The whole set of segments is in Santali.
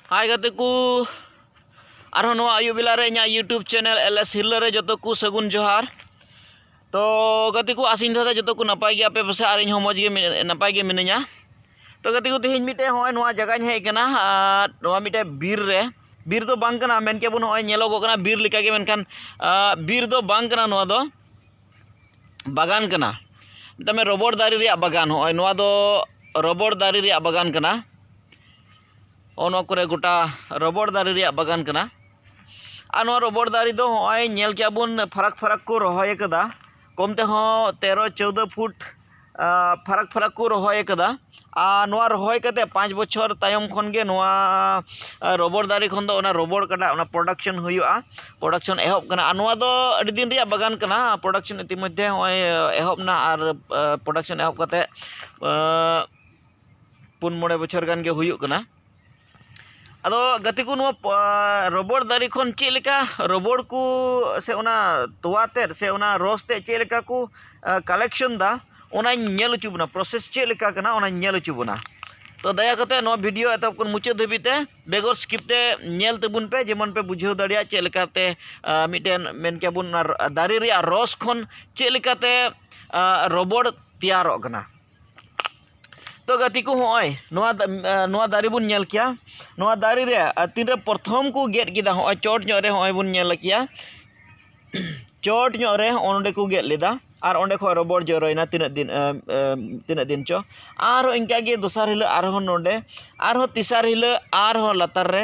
ᱦᱟᱭ ᱜᱟᱛᱮ ᱠᱚ ᱟᱨᱦᱚᱸ ᱱᱚᱣᱟ ᱟᱹᱭᱩᱵ ᱵᱮᱞᱟ ᱨᱮ ᱤᱧᱟᱹᱜ ᱤᱭᱩᱴᱩᱵᱽ ᱪᱮᱱᱮᱞ ᱮᱞ ᱮᱥ ᱦᱤᱨᱞᱟᱹ ᱨᱮ ᱡᱚᱛᱚ ᱠᱚ ᱥᱟᱹᱜᱩᱱ ᱡᱚᱦᱟᱨ ᱛᱚ ᱜᱟᱛᱮ ᱠᱚ ᱟᱥᱤᱧ ᱫᱷᱟᱨᱟ ᱡᱚᱛᱚ ᱠᱚ ᱱᱟᱯᱟᱭ ᱜᱮᱭᱟ ᱯᱮ ᱯᱟᱥᱮ ᱟᱨ ᱤᱧ ᱦᱚᱸ ᱢᱚᱡᱽ ᱜᱮ ᱱᱟᱯᱟᱭ ᱜᱮ ᱢᱤᱱᱟᱹᱧᱟ ᱛᱚ ᱜᱟᱛᱮ ᱠᱚ ᱛᱮᱦᱮᱧ ᱢᱤᱫᱴᱮᱡ ᱦᱚᱸᱜᱼᱚᱭ ᱱᱚᱣᱟ ᱡᱟᱭᱜᱟᱧ ᱦᱮᱡ ᱠᱟᱱᱟ ᱟᱨ ᱱᱚᱣᱟ ᱢᱤᱫᱴᱮᱡ ᱵᱤᱨ ᱨᱮ ᱵᱤᱨ ᱫᱚ ᱵᱟᱝ ᱠᱟᱱᱟ ᱢᱮᱱ ᱠᱮᱭᱟ ᱵᱚᱱ ᱦᱚᱸᱜᱼᱚᱭ ᱧᱮᱞᱚᱜᱚᱜ ᱠᱟᱱᱟ ᱵᱤᱨ ᱞᱮᱠᱟᱜᱮ ᱢᱮᱱᱠᱷᱟᱱ ᱵᱤᱨ ᱫᱚ ᱵᱟᱝ ᱠᱟᱱᱟ ᱱᱚᱣᱟ ᱫᱚ ᱵᱟᱜᱟᱱ ᱠᱟᱱᱟ ᱢᱮᱛᱟᱜ ᱢᱮ ᱨᱚᱵᱚᱲ ᱫᱟᱨᱮ ᱨᱮᱭᱟᱜ ᱵᱟᱜᱟᱱ ᱦᱚᱸᱜᱼᱚᱭ ᱱᱚᱣᱟ ᱫᱚ ᱨᱚᱵᱚᱲ ᱫᱟᱨᱮ ᱨᱮᱭᱟᱜ ᱵᱟᱜᱟᱱ ᱠᱟᱱᱟ ᱦᱚᱸᱜᱼᱚ ᱱᱚᱣᱟ ᱠᱚᱨᱮ ᱜᱚᱴᱟ ᱨᱚᱵᱚᱲ ᱫᱟᱨᱮ ᱨᱮᱭᱟᱜ ᱵᱟᱜᱟᱱ ᱠᱟᱱᱟ ᱟᱨ ᱱᱚᱣᱟ ᱨᱚᱵᱚᱲ ᱫᱟᱨᱮ ᱫᱚ ᱦᱚᱸᱜᱼᱚᱭ ᱧᱮᱞ ᱠᱮᱜᱼᱟ ᱵᱚᱱ ᱯᱷᱟᱨᱟᱠ ᱯᱷᱟᱨᱟᱠ ᱠᱚ ᱨᱚᱦᱚᱭ ᱠᱟᱫᱟ ᱠᱚᱢ ᱛᱮᱦᱚᱸ ᱛᱮᱨᱚ ᱪᱳᱫᱽᱫᱳ ᱯᱷᱩᱴ ᱯᱷᱟᱨᱟᱠ ᱯᱷᱟᱨᱟᱠ ᱠᱚ ᱨᱚᱦᱚᱭ ᱠᱟᱫᱟ ᱟᱨ ᱱᱚᱣᱟ ᱨᱚᱦᱚᱭ ᱠᱟᱛᱮᱫ ᱯᱟᱸᱪ ᱵᱚᱪᱷᱚᱨ ᱛᱟᱭᱚᱢ ᱠᱷᱚᱱ ᱜᱮ ᱱᱚᱣᱟ ᱨᱚᱵᱚᱲ ᱫᱟᱨᱮ ᱠᱷᱚᱱ ᱫᱚ ᱚᱱᱟ ᱨᱚᱵᱚᱲ ᱠᱟᱴᱟᱜ ᱚᱱᱟ ᱯᱨᱚᱰᱟᱠᱥᱮᱱ ᱦᱩᱭᱩᱜᱼᱟ ᱯᱨᱚᱰᱟᱠᱥᱮᱱ ᱮᱦᱚᱵ ᱠᱟᱱᱟ ᱟᱨ ᱱᱚᱣᱟ ᱫᱚ ᱟᱹᱰᱤ ᱫᱤᱱ ᱨᱮᱭᱟᱜ ᱵᱟᱜᱟᱱ ᱠᱟᱱᱟ ᱯᱨᱚᱰᱟᱠᱥᱮᱱ ᱤᱛᱤ ᱢᱚᱫᱽᱫᱷᱮ ᱱᱚᱜᱼᱚᱭ ᱮᱦᱚᱵ ᱱᱟ ᱟᱨ ᱯᱨᱚᱰᱟᱠᱥᱮᱱ ᱮᱦᱚᱵ ᱠᱟᱛᱮᱫ ᱯᱩᱱ ᱢᱚᱬᱮ ᱵᱚᱪᱷᱚᱨ ᱜᱟᱱ ᱜᱮ ᱦᱩᱭᱩᱜ ᱠᱟᱱᱟ ᱟᱫᱚ ᱜᱟᱛᱮ ᱠᱚ ᱱᱚᱣᱟ ᱨᱚᱵᱚᱲ ᱫᱟᱨᱮ ᱠᱷᱚᱱ ᱪᱮᱫ ᱞᱮᱠᱟ ᱨᱚᱵᱚᱲ ᱠᱚ ᱥᱮ ᱚᱱᱟ ᱛᱚᱣᱟ ᱛᱮᱫ ᱥᱮ ᱚᱱᱟ ᱨᱚᱥ ᱛᱮᱫ ᱪᱮᱫ ᱞᱮᱠᱟ ᱠᱚ ᱠᱟᱞᱮᱠᱥᱮᱱ ᱫᱟ ᱚᱱᱟᱧ ᱧᱮᱞ ᱦᱚᱪᱚ ᱵᱚᱱᱟ ᱯᱨᱚᱥᱮᱥ ᱪᱮᱫ ᱞᱮᱠᱟ ᱠᱟᱱᱟ ᱚᱱᱟᱧ ᱧᱮᱞ ᱦᱚᱪᱚ ᱵᱚᱱᱟ ᱛᱚ ᱫᱟᱭᱟ ᱠᱟᱛᱮᱫ ᱱᱚᱣᱟ ᱵᱷᱤᱰᱤᱭᱳ ᱮᱛᱚᱦᱚᱵ ᱠᱷᱚᱱ ᱢᱩᱪᱟᱹᱫ ᱫᱷᱟᱹᱵᱤᱡ ᱛᱮ ᱵᱮᱜᱚᱨ ᱥᱠᱤᱯ ᱛᱮ ᱧᱮᱞ ᱛᱟᱵᱚᱱ ᱯᱮ ᱡᱮᱢᱚᱱ ᱯᱮ ᱵᱩᱡᱷᱟᱹᱣ ᱫᱟᱲᱮᱭᱟᱜ ᱪᱮᱫ ᱞᱮᱠᱟᱛᱮ ᱢᱤᱫᱴᱮᱱ ᱢᱮᱱ ᱠᱮᱭᱟ ᱵᱚᱱ ᱫᱟᱨᱮ ᱨᱮᱭᱟᱜ ᱨᱚᱥ ᱠᱷᱚᱱ ᱪᱮᱫ ᱞᱮᱠᱟᱛᱮ ᱨᱚᱵᱚᱲ ᱛᱮᱭᱟᱨᱚᱜ ᱠᱟᱱᱟ ᱛᱚ ᱜᱟᱛᱮ ᱠᱚ ᱦᱚᱸᱜᱼᱚᱭ ᱱᱚᱣᱟ ᱱᱚᱣᱟ ᱫᱟᱨᱮ ᱵᱚᱱ ᱧᱮᱞ ᱠᱮᱭᱟ ᱱᱚᱣᱟ ᱫᱟᱨᱮ ᱨᱮ ᱛᱤᱱᱨᱮ ᱯᱨᱚᱛᱷᱚᱢ ᱠᱚ ᱜᱮᱫ ᱠᱮᱫᱟ ᱦᱚᱸᱜᱼᱚᱭ ᱪᱚᱴ ᱧᱚᱜ ᱨᱮ ᱦᱚᱸᱜᱼᱚᱭ ᱵᱚᱱ ᱧᱮᱞ ᱠᱮᱭᱟ ᱪᱚᱴ ᱧᱚᱜ ᱨᱮ ᱦᱚᱸᱜᱼᱚ ᱱᱚᱸᱰᱮ ᱠᱚ ᱜᱮᱫ ᱞᱮᱫᱟ ᱟᱨ ᱚᱸᱰᱮ ᱠᱷᱚᱱ ᱨᱚᱵᱚᱲ ᱡᱚᱨᱚᱭᱮᱱᱟ ᱛᱤᱱᱟᱹᱜ ᱫᱤᱱ ᱛᱤᱱᱟᱹᱜ ᱫᱤᱱ ᱪᱚ ᱟᱨᱦᱚᱸ ᱤᱱᱠᱟᱹ ᱜᱮ ᱫᱚᱥᱟᱨ ᱦᱤᱞᱳᱜ ᱟᱨᱦᱚᱸ ᱱᱚᱸᱰᱮ ᱟᱨᱦᱚᱸ ᱛᱮᱥᱟᱨ ᱦᱤᱞᱳᱜ ᱟᱨᱦᱚᱸ ᱞᱟᱛᱟᱨ ᱨᱮ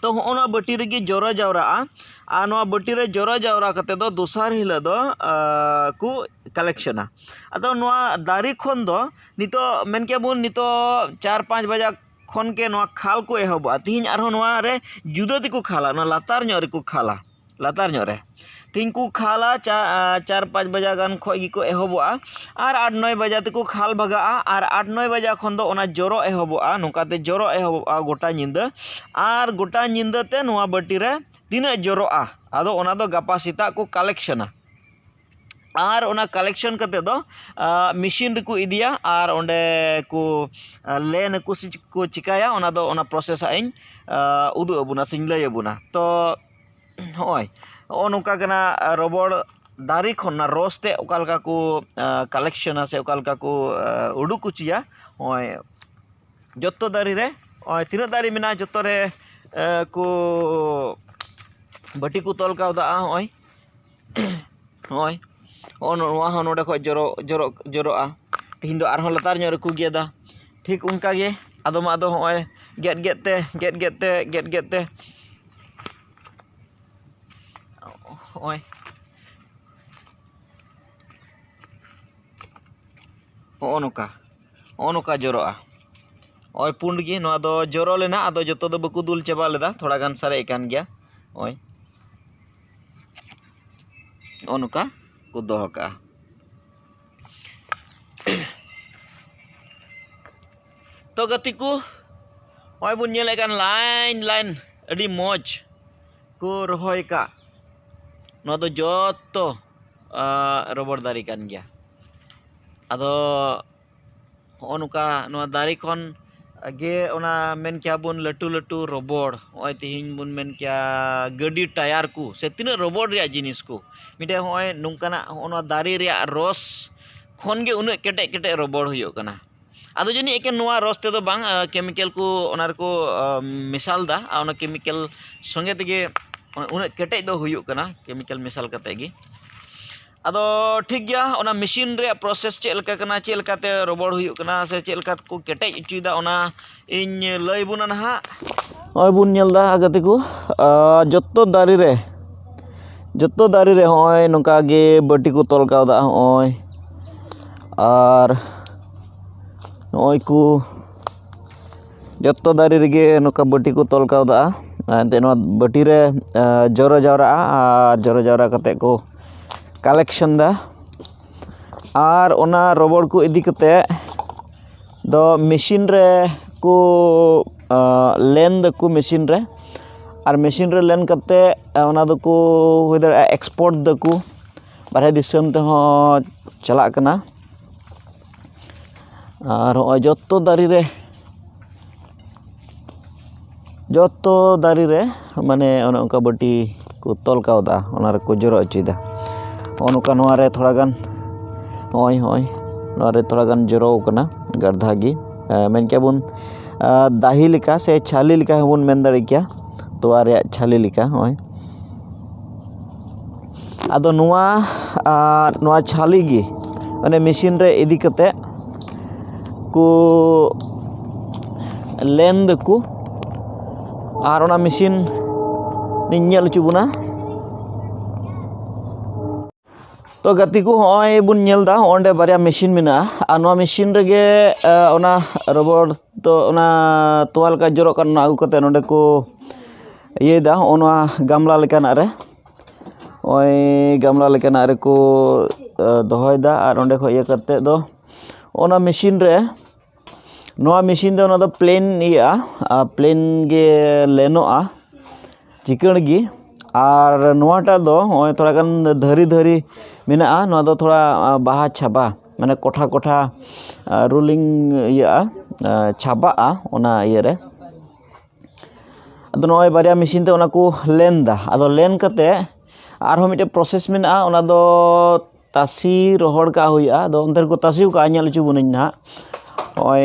ᱛᱚ ᱦᱚᱸᱜᱼᱚ ᱱᱚᱣᱟ ᱵᱟᱹᱴᱤ ᱨᱮᱜᱮ ᱡᱚᱨᱚ ᱡᱟᱣᱨᱟᱜᱼᱟ ᱟᱨ ᱱᱚᱣᱟ ᱵᱟᱹᱴᱤ ᱨᱮ ᱡᱚᱨᱚ ᱡᱟᱣᱨᱟ ᱠᱟᱛᱮ ᱫᱚ ᱫᱚᱥᱟᱨ ᱦᱤᱞᱳᱜ ᱫᱚ ᱠᱚ ᱠᱟᱞᱮᱠᱥᱮᱱᱟ ᱟᱫᱚ ᱱᱚᱣᱟ ᱫᱟᱨᱮ ᱠᱷᱚᱱ ᱫᱚ ᱱᱤᱛᱚᱜ ᱢᱮᱱ ᱠᱮᱭᱟ ᱵᱚᱱ ᱱᱤᱛᱚᱜ ᱪᱟᱨ ᱯᱟᱸᱪ ᱵᱟᱡᱟᱜ ᱠᱷᱚᱱ ᱜᱮ ᱱᱚᱣᱟ ᱠᱷᱟᱞ ᱠᱚ ᱮᱦᱚᱵᱚᱜᱼᱟ ᱛᱮᱦᱮᱧ ᱟᱨᱦᱚᱸ ᱱᱚᱣᱟ ᱨᱮ ᱡᱩᱫᱟᱹ ᱛᱮᱠᱚ ᱠᱷᱟᱞᱟ ᱱᱚᱣᱟ ᱞᱟᱛᱟᱨ ᱧᱚᱜ ᱨᱮᱠᱚ ᱠᱷᱟᱞᱟ ᱞᱟᱛᱟᱨ ᱧᱚᱜ ᱨᱮ ᱛᱤᱦᱤᱧ ᱠᱚ ᱠᱷᱟᱞᱟ ᱪᱟᱨ ᱯᱟᱸᱪ ᱵᱟᱡᱟᱜ ᱜᱟᱱ ᱠᱷᱚᱱ ᱜᱮᱠᱚ ᱮᱦᱚᱵᱚᱜᱼᱟ ᱟᱨ ᱟᱴ ᱱᱚᱭ ᱵᱟᱡᱟ ᱛᱮᱠᱚ ᱠᱷᱟᱞ ᱵᱷᱟᱜᱟᱜᱼᱟ ᱟᱨ ᱟᱴ ᱱᱚᱭ ᱵᱟᱡᱟ ᱠᱷᱚᱱ ᱫᱚ ᱚᱱᱟ ᱡᱚᱨᱚᱜ ᱮᱦᱚᱵᱚᱜᱼᱟ ᱱᱚᱝᱠᱟ ᱛᱮ ᱡᱚᱨᱚᱜ ᱮᱦᱚᱵᱚᱜᱼᱟ ᱜᱚᱴᱟ ᱧᱤᱫᱟᱹ ᱟᱨ ᱜᱚᱴᱟ ᱧᱤᱫᱟᱹ ᱛᱮ ᱱᱚᱣᱟ ᱵᱟᱹᱴᱤ ᱨᱮ ᱛᱤᱱᱟᱹᱜ ᱡᱚᱨᱚᱜᱼᱟ ᱟᱫᱚ ᱚᱱᱟ ᱫᱚ ᱜᱟᱯᱟ ᱥᱮᱛᱟᱜ ᱠᱚ ᱠᱟᱞᱮᱠᱥᱮᱱᱟ ᱟᱨ ᱚᱱᱟ ᱠᱟᱞᱮᱠᱥᱮᱱ ᱠᱟᱛᱮᱫ ᱫᱚ ᱢᱮᱥᱤᱱ ᱨᱮᱠᱚ ᱤᱫᱤᱭᱟ ᱟᱨ ᱚᱸᱰᱮ ᱠᱚ ᱞᱮᱱ ᱟᱠᱚ ᱥᱮ ᱪᱮᱫ ᱠᱚ ᱪᱤᱠᱟᱹᱭᱟ ᱚᱱᱟ ᱫᱚ ᱚᱱᱟ ᱯᱨᱚᱥᱮᱥ ᱦᱟᱸᱜ ᱤᱧ ᱩᱫᱩᱜ ᱟᱵᱚᱱᱟ ᱥᱮᱧ ᱞᱟᱹᱭ ᱟᱵᱚᱱᱟ ᱛᱚ ᱦᱚᱜᱼᱚᱸᱭ ᱦᱚᱜᱼᱚᱸᱭ ᱱᱚᱝᱠᱟ ᱠᱟᱱᱟ ᱨᱚᱵᱚᱲ ᱫᱟᱨᱮ ᱠᱷᱚᱱ ᱚᱱᱟ ᱨᱚᱥ ᱛᱮᱫ ᱚᱠᱟ ᱞᱮᱠᱟ ᱠᱚ ᱠᱟᱞᱮᱠᱥᱮᱱᱟ ᱥᱮ ᱚᱠᱟ ᱞᱮᱠᱟ ᱠᱚ ᱩᱰᱩᱠ ᱦᱚᱪᱚᱭᱟ ᱦᱚᱜᱼᱚᱸᱭ ᱡᱚᱛᱚ ᱫᱟᱨᱮ ᱨᱮ ᱦᱚᱜᱼᱚᱸᱭ ᱛᱤᱱᱟᱹᱜ ᱫᱟᱨᱮ ᱢᱮᱱᱟᱜᱼᱟ ᱡᱚᱛᱚ ᱨᱮ ᱠᱚ ᱵᱟᱹᱴᱤ ᱠᱚ ᱛᱚᱞ ᱠᱟᱣᱫᱟ ᱦᱚᱜᱼᱚᱸᱭ ᱱᱚᱜᱼᱚᱭ ᱱᱚᱜᱼᱚ ᱱᱚᱣᱟ ᱦᱚᱸ ᱱᱚᱰᱮ ᱠᱷᱚᱡ ᱡᱚᱨᱚᱜ ᱡᱚᱨᱚᱜ ᱡᱚᱨᱚᱜᱼᱟ ᱛᱮᱦᱮᱧ ᱫᱚ ᱟᱨᱦᱚᱸ ᱞᱟᱛᱟᱨ ᱧᱚᱜ ᱨᱮᱠᱚ ᱜᱮᱫᱟ ᱴᱷᱤᱠ ᱚᱱᱠᱟ ᱜᱮ ᱟᱫᱚᱢᱟᱜ ᱫᱚ ᱱᱚᱜᱼᱚᱭ ᱜᱮᱫ ᱜᱮᱫ ᱛᱮ ᱜᱮᱫ ᱜᱮᱫ ᱛᱮ ᱜᱮᱫ ᱜᱮᱫ ᱛᱮ ᱱᱚᱜᱼᱚᱭ ᱱᱚᱜᱼᱚ ᱱᱚᱝᱠᱟ ᱱᱚᱜᱼᱚ ᱱᱚᱝᱠᱟ ᱡᱚᱨᱚᱜᱼᱟ ᱱᱚᱜᱼᱚᱭ ᱯᱩᱸᱰ ᱜᱮ ᱱᱚᱣᱟ ᱫᱚ ᱡᱚᱨᱚ ᱞᱮᱱᱟ ᱟᱫᱚ ᱡᱚᱛᱚ ᱫᱚ ᱵᱟᱠᱚ ᱫᱩᱞ ᱪᱟᱵᱟ ᱞᱮᱫᱟ ᱛᱷᱚᱲᱟ ᱜᱟᱱ ᱥᱟᱨᱮᱡ ᱟᱠᱟᱱ ᱜᱮᱭᱟ ᱱᱚᱜᱼᱚᱭ ᱱᱚᱜᱼᱚ ᱱᱚᱝᱠᱟ ᱠᱚ ᱫᱚᱦᱚ ᱠᱟᱜᱼᱟ ᱛᱚ ᱜᱟᱛᱮ ᱠᱚ ᱱᱚᱜᱼᱚᱭ ᱵᱚᱱ ᱧᱮᱞᱮᱫ ᱠᱟᱱ ᱞᱟᱭᱤᱱ ᱞᱟᱭᱤᱱ ᱟᱹᱰᱤ ᱢᱚᱡᱽ ᱠᱚ ᱨᱚᱦᱚᱭ ᱠᱟᱜ ᱱᱚᱣᱟ ᱫᱚ ᱡᱚᱛᱚ ᱨᱚᱵᱚᱲ ᱫᱟᱨᱮ ᱠᱟᱱ ᱜᱮᱭᱟ ᱟᱫᱚ ᱦᱚᱸᱜᱼᱚ ᱱᱚᱝᱠᱟ ᱱᱚᱣᱟ ᱫᱟᱨᱮ ᱠᱷᱚᱱ ᱜᱮ ᱚᱱᱟ ᱢᱮᱱ ᱠᱮᱭᱟ ᱵᱚᱱ ᱞᱟᱹᱴᱩ ᱞᱟᱹᱴᱩ ᱨᱚᱵᱚᱲ ᱦᱚᱸᱜᱼᱚᱭ ᱛᱤᱦᱤᱧ ᱵᱚᱱ ᱢᱮᱱ ᱠᱮᱭᱟ ᱜᱟᱹᱰᱤ ᱴᱟᱭᱟᱨ ᱠᱚ ᱥᱮ ᱛᱤᱱᱟᱹᱜ ᱨᱚᱵᱚᱲ ᱨᱮᱭᱟᱜ ᱡᱤᱱᱤᱥ ᱠᱚ ᱢᱤᱫᱴᱮᱱ ᱦᱚᱸᱜᱼᱚᱭ ᱱᱚᱝᱠᱟᱱᱟᱜ ᱦᱚᱸᱜᱼᱚ ᱱᱚᱣᱟ ᱫᱟᱨᱮ ᱨᱮᱭᱟᱜ ᱨᱚᱥ ᱠᱷᱚᱱ ᱜᱮ ᱩᱱᱟᱹᱜ ᱠᱮᱴᱮᱡ ᱠᱮᱴᱮᱡ ᱨᱚᱵᱚᱲ ᱦᱩᱭᱩᱜ ᱠᱟᱱᱟ ᱟᱫᱚ ᱡᱟᱹᱱᱤᱡ ᱮᱠᱮᱱ ᱱᱚᱣᱟ ᱨᱚᱥ ᱛᱮᱫᱚ ᱵᱟᱝ ᱠᱮᱢᱤᱠᱮᱞ ᱠᱚ ᱚᱱᱟ ᱨᱮᱠᱚ ᱢᱮᱥᱟᱞᱫᱟ ᱟᱨ ᱚᱱᱟ ᱠᱮᱢᱤᱠᱮᱞ ᱥᱚᱸᱜᱮ ᱛᱮᱜᱮ ᱩᱱᱟᱹᱜ ᱠᱮᱴᱮᱡ ᱫᱚ ᱦᱩᱭᱩᱜ ᱠᱟᱱᱟ ᱠᱮᱢᱤᱠᱮᱞ ᱢᱮᱥᱟᱞ ᱠᱟᱛᱮᱫ ᱜᱮ ᱟᱫᱚ ᱴᱷᱤᱠ ᱜᱮᱭᱟ ᱚᱱᱟ ᱢᱮᱥᱤᱱ ᱨᱮᱭᱟᱜ ᱯᱨᱚᱥᱮᱥ ᱪᱮᱫ ᱞᱮᱠᱟ ᱠᱟᱱᱟ ᱪᱮᱫ ᱞᱮᱠᱟᱛᱮ ᱨᱚᱵᱚᱲ ᱦᱩᱭᱩᱜ ᱠᱟᱱᱟ ᱥᱮ ᱪᱮᱫ ᱞᱮᱠᱟ ᱛᱮᱠᱚ ᱠᱮᱴᱮᱡ ᱦᱚᱪᱚᱭᱮᱫᱟ ᱚᱱᱟ ᱤᱧ ᱞᱟᱹᱭ ᱟᱵᱚᱱᱟ ᱱᱟᱦᱟᱜ ᱱᱚᱜᱼᱚᱭ ᱵᱚᱱ ᱧᱮᱞᱫᱟ ᱜᱟᱛᱮ ᱠᱚ ᱡᱚᱛᱚ ᱫᱟᱨᱮ ᱨᱮ ᱡᱚᱛᱚ ᱫᱟᱨᱮ ᱨᱮ ᱱᱚᱜᱼᱚᱭ ᱱᱚᱝᱠᱟ ᱜᱮ ᱵᱟᱹᱴᱤ ᱠᱚ ᱛᱚᱞ ᱠᱟᱣᱫᱟ ᱱᱚᱜᱼᱚᱭ ᱟᱨ ᱱᱚᱜᱼᱚᱭ ᱠᱚ ᱡᱚᱛᱚ ᱫᱟᱨᱮ ᱨᱮᱜᱮ ᱱᱚᱝᱠᱟ ᱵᱟᱹᱴᱤ ᱠᱚ ᱛᱚᱞ ᱠᱟᱣᱫᱟ ᱮᱱᱛᱮ ᱱᱚᱣᱟ ᱵᱟᱹᱴᱤ ᱨᱮ ᱡᱚᱨᱚ ᱡᱟᱣᱨᱟᱜᱼᱟ ᱟᱨ ᱡᱚᱨᱚ ᱡᱟᱣᱨᱟ ᱠᱟᱛᱮᱫ ᱠᱚ ᱠᱟᱞᱮᱠᱥᱮᱱ ᱫᱟ ᱟᱨ ᱚᱱᱟ ᱨᱚᱵᱚᱲ ᱠᱚ ᱤᱫᱤ ᱠᱟᱛᱮᱫ ᱫᱚ ᱢᱮᱹᱥᱤᱱ ᱨᱮ ᱠᱚ ᱞᱮᱱ ᱫᱟᱠᱚ ᱢᱮᱹᱥᱤᱱ ᱨᱮ ᱟᱨ ᱢᱮᱹᱥᱤᱱ ᱨᱮ ᱞᱮᱱ ᱠᱟᱛᱮᱫ ᱚᱱᱟ ᱫᱚᱠᱚ ᱦᱩᱭ ᱫᱟᱲᱮᱭᱟᱜᱼᱟ ᱮᱠᱥᱯᱳᱨᱴ ᱫᱟᱠᱚ ᱵᱟᱦᱨᱮ ᱫᱤᱥᱚᱢ ᱛᱮᱦᱚᱸ ᱪᱟᱞᱟᱜ ᱠᱟᱱᱟ ᱟᱨ ᱦᱚᱸᱜᱼᱚᱭ ᱡᱚᱛᱚ ᱫᱟᱨᱮ ᱨᱮ ᱡᱚᱛᱚ ᱫᱟᱨᱮ ᱨᱮ ᱢᱟᱱᱮ ᱚᱱᱮ ᱚᱱᱠᱟ ᱵᱟᱹᱴᱤ ᱠᱚ ᱛᱚᱞ ᱠᱟᱣᱫᱟ ᱚᱱᱟ ᱨᱮᱠᱚ ᱡᱚᱨᱚ ᱦᱚᱪᱚᱭᱮᱫᱟ ᱱᱚᱜᱼᱚ ᱱᱚᱝᱠᱟ ᱱᱚᱣᱟ ᱨᱮ ᱛᱷᱚᱲᱟ ᱜᱟᱱ ᱦᱚᱸᱜᱼᱚᱭ ᱦᱚᱸᱜᱼᱚᱭ ᱱᱚᱣᱟ ᱨᱮ ᱛᱷᱚᱲᱟ ᱜᱟᱱ ᱡᱚᱨᱚᱣ ᱠᱟᱱᱟ ᱜᱟᱨᱫᱷᱟ ᱜᱮ ᱢᱮᱱ ᱠᱮᱭᱟ ᱵᱚᱱ ᱫᱟᱦᱤ ᱞᱮᱠᱟ ᱥᱮ ᱪᱷᱟᱹᱞᱤ ᱞᱮᱠᱟ ᱦᱚᱸᱵᱚᱱ ᱢᱮᱱ ᱫᱟᱲᱮ ᱠᱮᱭᱟ ᱛᱚᱣᱟ ᱨᱮᱭᱟᱜ ᱪᱷᱟᱹᱞᱤ ᱞᱮᱠᱟ ᱦᱚᱸᱜᱼᱚᱭ ᱟᱫᱚ ᱱᱚᱣᱟ ᱱᱚᱣᱟ ᱪᱷᱟᱹᱞᱤ ᱜᱮ ᱢᱟᱱᱮ ᱢᱮᱥᱤᱱ ᱨᱮ ᱤᱫᱤ ᱠᱟᱛᱮᱫ ᱠᱚ ᱞᱮᱱ ᱫᱟᱠᱚ ᱟᱨ ᱚᱱᱟ ᱢᱮᱥᱤᱱ ᱤᱧ ᱧᱮᱞ ᱦᱚᱪᱚ ᱵᱚᱱᱟ ᱛᱚ ᱜᱟᱛᱮ ᱠᱚ ᱦᱚᱸᱜᱼᱚᱭ ᱵᱚᱱ ᱧᱮᱞᱫᱟ ᱚᱸᱰᱮ ᱵᱟᱨᱭᱟ ᱢᱮᱥᱤᱱ ᱢᱮᱱᱟᱜᱼᱟ ᱟᱨ ᱱᱚᱣᱟ ᱢᱮᱥᱤᱱ ᱨᱮᱜᱮ ᱚᱱᱟ ᱨᱚᱵᱚᱲ ᱛᱚ ᱚᱱᱟ ᱛᱚᱣᱟ ᱞᱮᱠᱟ ᱡᱚᱨᱚᱜ ᱠᱟᱱᱟ ᱚᱱᱟ ᱟᱹᱜᱩ ᱠᱟᱛᱮᱫ ᱱᱚᱰᱮ ᱠᱚ ᱤᱭᱟᱹᱭᱫᱟ ᱦᱚᱸᱜᱼᱚ ᱱᱚᱣᱟ ᱜᱟᱢᱞᱟ ᱞᱮᱠᱟᱱᱟᱜ ᱨᱮ ᱱᱚᱜᱼᱚᱭ ᱜᱟᱢᱞᱟ ᱞᱮᱠᱟᱱᱟᱜ ᱨᱮᱠᱚ ᱫᱚᱦᱚᱭᱫᱟ ᱟᱨ ᱚᱸᱰᱮ ᱠᱷᱚᱡ ᱤᱭᱟᱹ ᱠᱟᱛᱮ ᱫᱚ ᱚᱱᱟ ᱢᱮᱥᱤᱱ ᱨᱮ ᱱᱚᱣᱟ ᱢᱮᱥᱤᱱ ᱫᱚ ᱱᱚᱣᱟ ᱫᱚ ᱯᱞᱮᱱ ᱤᱭᱟᱹᱜᱼᱟ ᱟᱨ ᱯᱞᱮᱱ ᱜᱮ ᱞᱮᱱᱚᱜᱼᱟ ᱪᱤᱠᱟᱹᱲ ᱜᱮ ᱟᱨ ᱱᱚᱣᱟᱴᱟᱜ ᱫᱚ ᱱᱚᱜᱼᱚᱭ ᱛᱷᱚᱲᱟ ᱜᱟᱱ ᱫᱷᱟᱹᱨᱤ ᱫᱷᱟᱹᱨᱤ ᱢᱮᱱᱟᱜᱼᱟ ᱱᱚᱣᱟ ᱫᱚ ᱛᱷᱚᱲᱟ ᱵᱟᱦᱟ ᱪᱷᱟᱵᱟ ᱢᱟᱱᱮ ᱠᱚᱴᱷᱟ ᱠᱚᱴᱷᱟ ᱨᱳᱞᱤᱝ ᱤᱭᱟᱹᱜᱼᱟ ᱪᱷᱟᱵᱟᱜᱼᱟ ᱚᱱᱟ ᱤᱭᱟᱹᱨᱮ ᱟᱫᱚ ᱱᱚᱜᱼᱚᱭ ᱵᱟᱨᱭᱟ ᱢᱮᱥᱤᱱ ᱛᱮ ᱚᱱᱟ ᱠᱚ ᱞᱮᱱ ᱮᱫᱟ ᱟᱫᱚ ᱞᱮᱱ ᱠᱟᱛᱮ ᱟᱨᱦᱚᱸ ᱢᱤᱫᱴᱮᱡ ᱯᱨᱚᱥᱮᱥ ᱢᱮᱱᱟᱜᱼᱟ ᱚᱱᱟ ᱫᱚ ᱛᱟᱥᱮ ᱨᱚᱦᱚᱲ ᱠᱟᱜ ᱦᱩᱭᱩᱜᱼᱟ ᱟᱫᱚ ᱚᱱᱛᱮ ᱨᱮᱠᱚ ᱛᱟᱥᱮ ᱟᱠᱟᱫᱼᱟ ᱧᱮᱞ ᱦᱚᱪᱚ ᱵᱚᱱᱟᱹᱧ ᱱᱟᱦᱟᱜ ᱱᱚᱜᱼᱚᱭ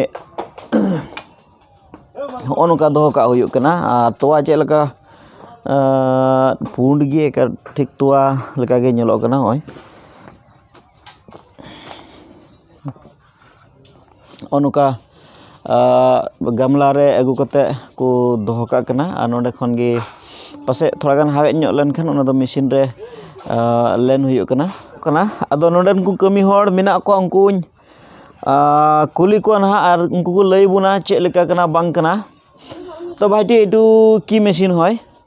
ᱦᱚᱸᱜᱼᱚ ᱱᱚᱝᱠᱟ ᱫᱚᱦᱚ ᱠᱟᱜ ᱦᱩᱭᱩᱜ ᱠᱟᱱᱟ ᱟᱨ ᱛᱚᱣᱟ ᱪᱮᱫ ᱞᱮᱠᱟ ᱯᱩᱸᱰ ᱜᱮ ᱮᱠᱟᱞ ᱴᱷᱤᱠ ᱛᱚᱣᱟ ᱞᱮᱠᱟᱜᱮ ᱧᱮᱞᱚᱜ ᱠᱟᱱᱟ ᱱᱚᱜᱼᱚᱭ ᱱᱚᱜᱼᱚ ᱱᱚᱝᱠᱟ ᱜᱟᱢᱞᱟ ᱨᱮ ᱟᱹᱜᱩ ᱠᱟᱛᱮᱫ ᱠᱚ ᱫᱚᱦᱚ ᱠᱟᱜ ᱠᱟᱱᱟ ᱟᱨ ᱱᱚᱸᱰᱮ ᱠᱷᱚᱱ ᱜᱮ ᱯᱟᱥᱮᱡ ᱛᱷᱚᱲᱟ ᱜᱟᱱ ᱦᱟᱣᱮᱫ ᱧᱚᱜ ᱞᱮᱱᱠᱷᱟᱱ ᱚᱱᱟ ᱫᱚ ᱢᱮᱹᱥᱤᱱ ᱨᱮ ᱞᱮᱱ ᱦᱩᱭᱩᱜ ᱠᱟᱱᱟ ᱠᱟᱱᱟ ᱟᱫᱚ ᱱᱚᱸᱰᱮᱱ ᱠᱚ ᱠᱟᱹᱢᱤ ᱦᱚᱲ ᱢᱮᱱᱟᱜ ᱠᱚᱣᱟ ᱩᱱᱠᱩᱧ ᱠᱩᱞᱤ ᱠᱚᱣᱟ ᱱᱟᱦᱟᱜ ᱟᱨ ᱩᱱᱠᱩ ᱠᱚ ᱞᱟᱹᱭ ᱵᱚᱱᱟ ᱪᱮᱫ ᱞᱮᱠᱟ ᱠᱟᱱᱟ ᱵᱟᱝ ᱠᱟᱱᱟ ᱛᱳ ᱵᱷᱟᱭᱴᱤ ᱮᱭᱴᱩ ᱠᱤ ᱢᱮᱹᱥᱤᱱ ᱦᱚᱭ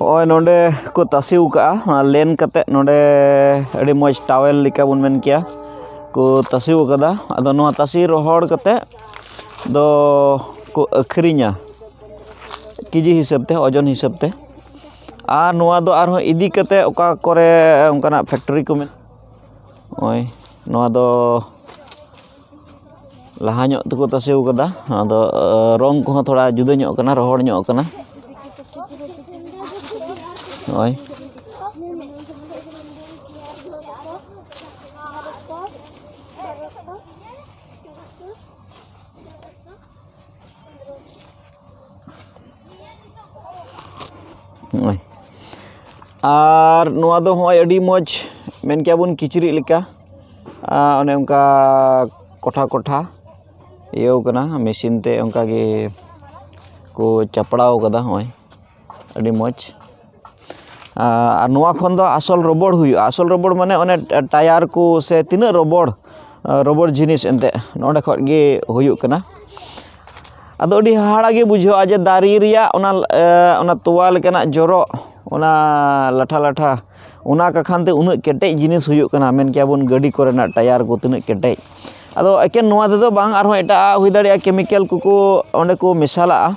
ᱦᱚᱸᱜᱼᱚᱭ ᱱᱚᱰᱮ ᱠᱚ ᱛᱟᱥᱮ ᱟᱠᱟᱫᱼᱟ ᱚᱱᱟ ᱞᱮᱱ ᱠᱟᱛᱮᱫ ᱱᱚᱰᱮ ᱟᱹᱰᱤ ᱢᱚᱡᱽ ᱴᱟᱣᱮᱞ ᱞᱮᱠᱟ ᱵᱚᱱ ᱢᱮᱱ ᱠᱮᱭᱟ ᱠᱚ ᱛᱟᱥᱮ ᱟᱠᱟᱫᱟ ᱟᱫᱚ ᱱᱚᱣᱟ ᱛᱟᱥᱮ ᱨᱚᱦᱚᱲ ᱠᱟᱛᱮᱫ ᱫᱚ ᱠᱚ ᱟᱹᱠᱷᱨᱤᱧᱟ ᱠᱮᱡᱤ ᱦᱤᱥᱟᱹᱵᱽ ᱛᱮ ᱳᱡᱚᱱ ᱦᱤᱥᱟᱹᱵᱽ ᱛᱮ ᱟᱨ ᱱᱚᱣᱟ ᱫᱚ ᱟᱨᱦᱚᱸ ᱤᱫᱤ ᱠᱟᱛᱮᱫ ᱚᱠᱟ ᱠᱚᱨᱮ ᱚᱱᱠᱟᱱᱟᱜ ᱯᱷᱮᱠᱴᱚᱨᱤ ᱠᱚ ᱢᱮᱱᱟᱜᱼᱟ ᱱᱚᱜᱼᱚᱭ ᱱᱚᱣᱟ ᱫᱚ ᱞᱟᱦᱟ ᱧᱚᱜ ᱛᱮᱠᱚ ᱛᱟᱥᱮ ᱠᱟᱫᱟ ᱟᱫᱚ ᱨᱚᱝ ᱠᱚᱦᱚᱸ ᱛᱷᱚᱲᱟ ᱡᱩᱫᱟᱹ ᱧᱚᱜ ᱠᱟᱱᱟ ᱨᱚᱦᱚᱲ ᱧᱚᱜ ᱠᱟᱱᱟ ᱱᱚᱜᱼᱚᱭ ᱱᱚᱜᱼᱚᱭ ᱟᱨ ᱱᱚᱣᱟ ᱫᱚ ᱦᱚᱸᱜᱼᱚᱭ ᱟᱹᱰᱤ ᱢᱚᱡᱽ ᱢᱮᱱ ᱠᱮᱭᱟ ᱵᱚᱱ ᱠᱤᱪᱨᱤᱡ ᱞᱮᱠᱟ ᱚᱱᱮ ᱚᱱᱠᱟ ᱠᱚᱴᱷᱟ ᱠᱚᱴᱷᱟ ᱤᱭᱟᱹᱣ ᱠᱟᱱᱟ ᱢᱮᱥᱤᱱ ᱛᱮ ᱚᱱᱠᱟᱜᱮ ᱠᱚ ᱪᱟᱯᱲᱟᱣ ᱠᱟᱫᱟ ᱦᱚᱸᱜᱼᱚᱭ ᱟᱹᱰᱤ ᱢᱚᱡᱽ ᱟᱨ ᱱᱚᱣᱟ ᱠᱷᱚᱱ ᱫᱚ ᱟᱥᱚᱞ ᱨᱚᱵᱚᱲ ᱦᱩᱭᱩᱜᱼᱟ ᱟᱥᱚᱞ ᱨᱚᱵᱚᱲ ᱢᱟᱱᱮ ᱚᱱᱮ ᱴᱟᱭᱟᱨ ᱠᱚ ᱥᱮ ᱛᱤᱱᱟᱹᱜ ᱨᱚᱵᱚᱲ ᱨᱚᱵᱚᱲ ᱡᱤᱱᱤᱥ ᱮᱱᱛᱮᱫ ᱱᱚᱰᱮ ᱠᱷᱚᱱ ᱜᱮ ᱦᱩᱭᱩᱜ ᱠᱟᱱᱟ ᱟᱫᱚ ᱟᱹᱰᱤ ᱦᱟᱦᱟᱲᱟᱜ ᱜᱮ ᱵᱩᱡᱷᱟᱹᱜᱼᱟ ᱡᱮ ᱫᱟᱨᱮ ᱨᱮᱭᱟᱜ ᱚᱱᱟ ᱚᱱᱟ ᱛᱚᱣᱟ ᱞᱮᱠᱟᱱᱟᱜ ᱡᱚᱨᱚᱜ ᱚᱱᱟ ᱞᱟᱴᱷᱟ ᱞᱟᱴᱷᱟ ᱚᱱᱟ ᱠᱟᱠᱷᱟᱱ ᱛᱮ ᱩᱱᱟᱹᱜ ᱠᱮᱴᱮᱡ ᱡᱤᱱᱤᱥ ᱦᱩᱭᱩᱜ ᱠᱟᱱᱟ ᱢᱮᱱ ᱠᱮᱭᱟ ᱵᱚᱱ ᱜᱟᱹᱰᱤ ᱠᱚᱨᱮᱱᱟᱜ ᱴᱟᱭᱟᱨ ᱠᱚ ᱛᱤᱱᱟᱹᱜ ᱠᱮᱴᱮᱡ ᱟᱫᱚ ᱮᱠᱮᱱ ᱱᱚᱣᱟ ᱛᱮᱫᱚ ᱵᱟᱝ ᱟᱨᱦᱚᱸ ᱮᱴᱟᱜ ᱟᱜ ᱦᱩᱭ ᱫᱟᱲᱮᱭᱟᱜᱼᱟ ᱠᱮᱢᱤᱠᱮᱞ ᱠᱚᱠᱚ ᱚᱸᱰᱮ ᱠᱚ ᱢᱮᱥᱟᱞᱟᱜᱼᱟ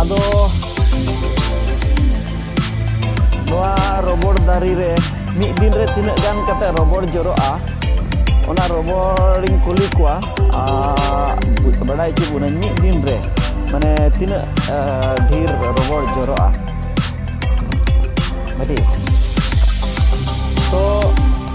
ᱟᱫᱚ ᱱᱚᱣᱟ ᱨᱚᱵᱚᱲ ᱫᱟᱨᱮ ᱨᱮ ᱢᱤᱫ ᱫᱤᱱ ᱨᱮ ᱛᱤᱱᱟᱹᱜ ᱜᱟᱱ ᱠᱟᱛᱮ ᱨᱚᱵᱚᱲ ᱡᱚᱨᱚᱜᱼᱟ ᱚᱱᱟ ᱨᱚᱵᱚᱲᱤᱧ ᱠᱩᱞᱤ ᱠᱚᱣᱟ ᱵᱟᱰᱟᱭ ᱦᱚᱪᱚ ᱵᱚᱱᱟᱹᱧ ᱢᱤᱫ ᱫᱤᱱ ᱨᱮ ᱢᱟᱱᱮ ᱛᱤᱱᱟᱹᱜ ᱰᱷᱮᱨ ᱨᱚᱵᱚᱲ ᱡᱚᱨᱚᱜᱼᱟ ᱟᱹᱰᱤ ᱛᱚ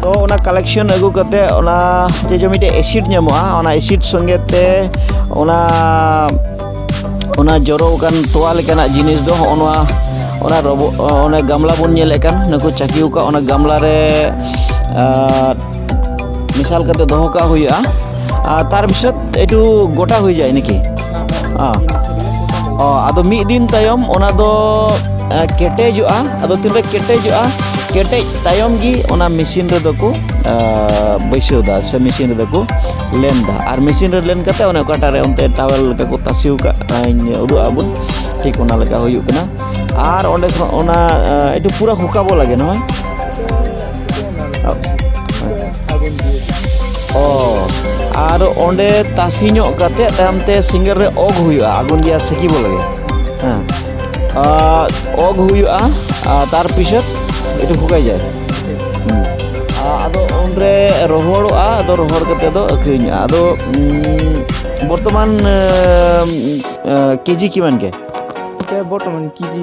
ᱛᱚ ᱚᱱᱟ ᱠᱟᱞᱮᱠᱥᱚᱱ ᱟᱹᱜᱩ ᱠᱟᱛᱮ ᱚᱱᱟ ᱡᱮ ᱡᱮ ᱢᱤᱫᱴᱮᱡ ᱮᱥᱤᱰ ᱧᱟᱢᱚᱜᱼᱟ ᱚᱱᱟ ᱮᱥᱤᱰ ᱥᱚᱸᱜᱮ ᱛᱮ ᱚᱱᱟ ᱚᱱᱟ ᱡᱚᱨᱚ ᱟᱠᱟᱱ ᱛᱚᱣᱟ ᱞᱮᱠᱟᱱᱟᱜ ᱡᱤᱱᱤᱥ ᱫᱚ ᱦᱚᱸᱜᱼᱚ ᱱᱚᱣᱟ ᱚᱱᱟ ᱨᱚᱵᱚ ᱚᱱᱟ ᱜᱟᱢᱞᱟ ᱵᱚᱱ ᱧᱮᱞᱮᱫ ᱠᱟᱱ ᱱᱩᱠᱩ ᱪᱟᱹᱠᱤ ᱟᱠᱟᱫ ᱚᱱᱟ ᱜᱟᱢᱞᱟ ᱨᱮ ᱢᱮᱥᱟᱞ ᱠᱟᱛᱮ ᱫᱚᱦᱚ ᱠᱟᱜ ᱦᱩᱭᱩᱜᱼᱟ ᱟᱨ ᱛᱟᱨ ᱵᱤᱥᱚᱫ ᱮᱴᱩ ᱜᱚᱴᱟ ᱦᱩᱭ ᱡᱟᱭ ᱱᱟᱠᱤ ᱟᱫᱚ ᱢᱤᱫ ᱫᱤᱱ ᱛᱟᱭᱚᱢ ᱚᱱᱟ ᱫᱚ ᱠᱮᱴᱮᱡᱚᱜᱼᱟ ᱟᱫᱚ ᱛᱤᱱᱨᱮ ᱠᱮᱴᱮᱡᱚᱜᱼᱟ ᱠᱮᱴᱮᱡ ᱛᱟᱭᱚᱢ ᱜᱮ ᱚᱱᱟ ᱢᱮᱥᱤᱱ ᱨᱮᱫᱚ ᱠᱚ ᱵᱟᱹᱭᱥᱟᱹᱣ ᱫᱟ ᱥᱮ ᱢᱮᱥᱤᱱ ᱨᱮᱫᱚ ᱠᱚ ᱞᱮᱱ ᱫᱟ ᱟᱨ ᱢᱮᱥᱤᱱ ᱨᱮ ᱞᱮᱱ ᱠᱟᱛᱮ ᱚᱱᱮ ᱚᱠᱟᱴᱟᱜ ᱨᱮ ᱚᱱᱛᱮ ᱴᱟᱣᱮᱞ ᱞᱮᱠᱟ ᱠᱚ ᱛᱟᱥᱮᱣ ᱠᱟᱜ ᱤᱧ ᱩᱫᱩᱜ ᱟᱵᱚᱱ ᱴᱷᱤᱠ ᱚᱱᱟ ᱞᱮᱠᱟ ᱦᱩᱭᱩᱜ ᱠᱟᱱᱟ ᱟᱨ ᱚᱸᱰᱮ ᱠᱷᱚᱱ ᱚᱱᱟ ᱮᱴᱩ ᱯᱩᱨᱟᱹ ᱦᱩᱠᱟᱵᱚ ᱞᱟᱜᱮ ᱱᱚᱜᱼᱚᱭ ᱚ ᱟᱨ ᱚᱸᱰᱮ ᱛᱟᱥᱤ ᱧᱚᱜ ᱠᱟᱛᱮ ᱛᱟᱭᱚᱢ ᱛᱮ ᱥᱤᱸᱜᱟᱹᱨ ᱨᱮ ᱚᱜ ᱦᱩᱭᱩᱜᱼᱟ ᱟᱜᱩᱱ ᱜᱮᱭᱟ ᱥᱮᱠᱤ ᱵᱚᱞᱮ ᱦᱮᱸ ᱚᱜ ᱦᱩᱭᱩᱜᱼᱟ ᱛᱟᱨ ᱯᱤᱪᱷᱚᱛ ᱮᱴᱩ ᱯᱷᱩᱠᱟᱭ ᱡᱟᱭ ᱟᱫᱚ ᱚᱸᱰᱮ ᱨᱚᱦᱚᱲᱚᱜᱼᱟ ᱟᱫᱚ ᱨᱚᱦᱚᱲ ᱠᱟᱛᱮ ᱫᱚ ᱟᱹᱠᱷᱨᱤᱧᱚᱜᱼᱟ ᱟᱫᱚ ᱵᱚᱨᱛᱚᱢᱟᱱ ᱠᱮᱡᱤ ᱠᱤᱢᱟᱱ ᱜᱮ ᱵᱚᱨᱛᱚᱢᱟᱱ ᱠᱮᱡᱤ